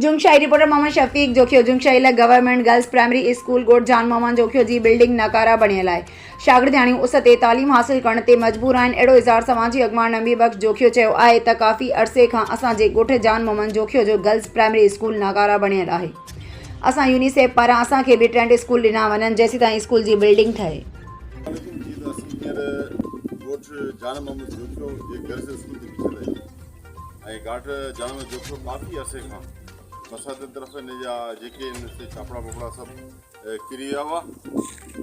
Jamshai, reporter Muhammad Shafiq Jokhio, Jamshai لاء government girls primary school ڳوٺ جان محمد جوکيو جي بلڊنگ ناڪاره بڻيل آهي، شاگردياڻيون اس تي تعليم حاصل ڪرڻ تي مجبور آهن، اهڙو اظهار سماجي اڳواڻ نبي بخش جوکيو چيو آهي ته ڪافي عرصي کان اسان جي ڳوٺ جان محمد جوکيو جو گرلز پرائمري اسڪول ناڪاره بڻيل آهي، اسان يونيسيف پاران اسان کي به ٽينٽ اسڪول ڏنا وڃن جيسيتائين اسڪول جي بلڊنگ ٺهي. بلڊنگ جي ته اسين هينئر ڳوٺ جان محمد جوکيو جي گرلز اسڪول تي بيٺل آهيون. ۽ گهاٽ جام جوکيو ڪافي عرصي کان برساتين طرف ان جا جيڪي ان تي ڇاپڙا ٻاپڙا سڀ ڪري ويا هئا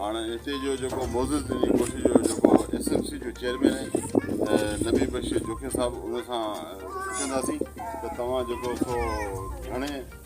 هاڻ هتي جو جيڪو معزز ان جي ڳوٺ جو جيڪو ايس ايم سي جو چيئرمين آهي نبي بخش جوکي صاحب ان سان پڇنداسين ته توهان جيڪو سو گهڻي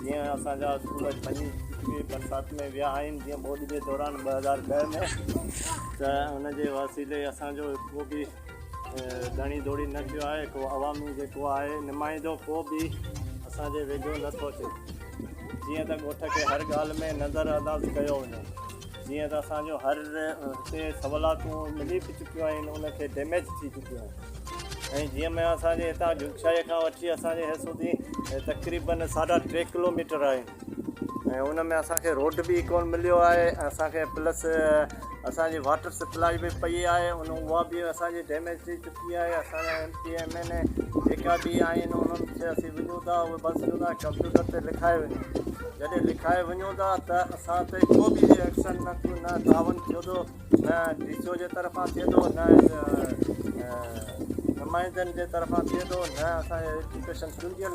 جيئن اسان جا اسڪول اڄ ڀڃي چڪي برسات ۾ ويا آهن جيئن ٻوڏ جي دوران ٻه هزار ڏهه ۾ ته ان جي وسيلي اسان جو ڪو به ڌڻي ڌوڙي نه ٿيو آهي ڪو عوامي جيڪو آهي نمائندو ڪو به اسان جي ويجهو نٿو اچي جيئن ته ڳوٺ کي هر ڳالهه ۾ نظر انداز ڪيو وڃي جيئن ته اسان جو هر هتي سولاتون ملي به چڪيون آهن ان کي ڊيميج ٿي چڪيون آهن ۽ جيئن ۾ اسان جي هتان جوکشاهي کان وٺي اسان جي هيسودي تقريبن ساڍا ٽي ڪلوميٽر آهن ۽ ان ۾ اسان کي روڊ به ڪون مليو آهي ۽ اسان کي پلس اسان جي واٽر سپلائي به پئي آهي ان اها به اسان جي ڊيميج ٿي چڪي آهي اسان سي ايم اين اي جيڪا به آهن انهن کي اسين وڃون ٿا اهي بس جو نه ڪمپيوٽر تي لکائي وڃو جڏهن لکائي وڃون ٿا ته اسان تي ڪو به ايڪشن نه ٿيو نه تعاون ٿيو ٿو نه ڊي سي او جي طرفان ٿئي ٿو نه نمائندن جي طرفان ٿئي ٿو نه اسانجي ايجوڪيشن چونڊيل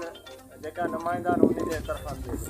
جيڪا نمائندا آهن انهن جي طرفان ٿئي ٿو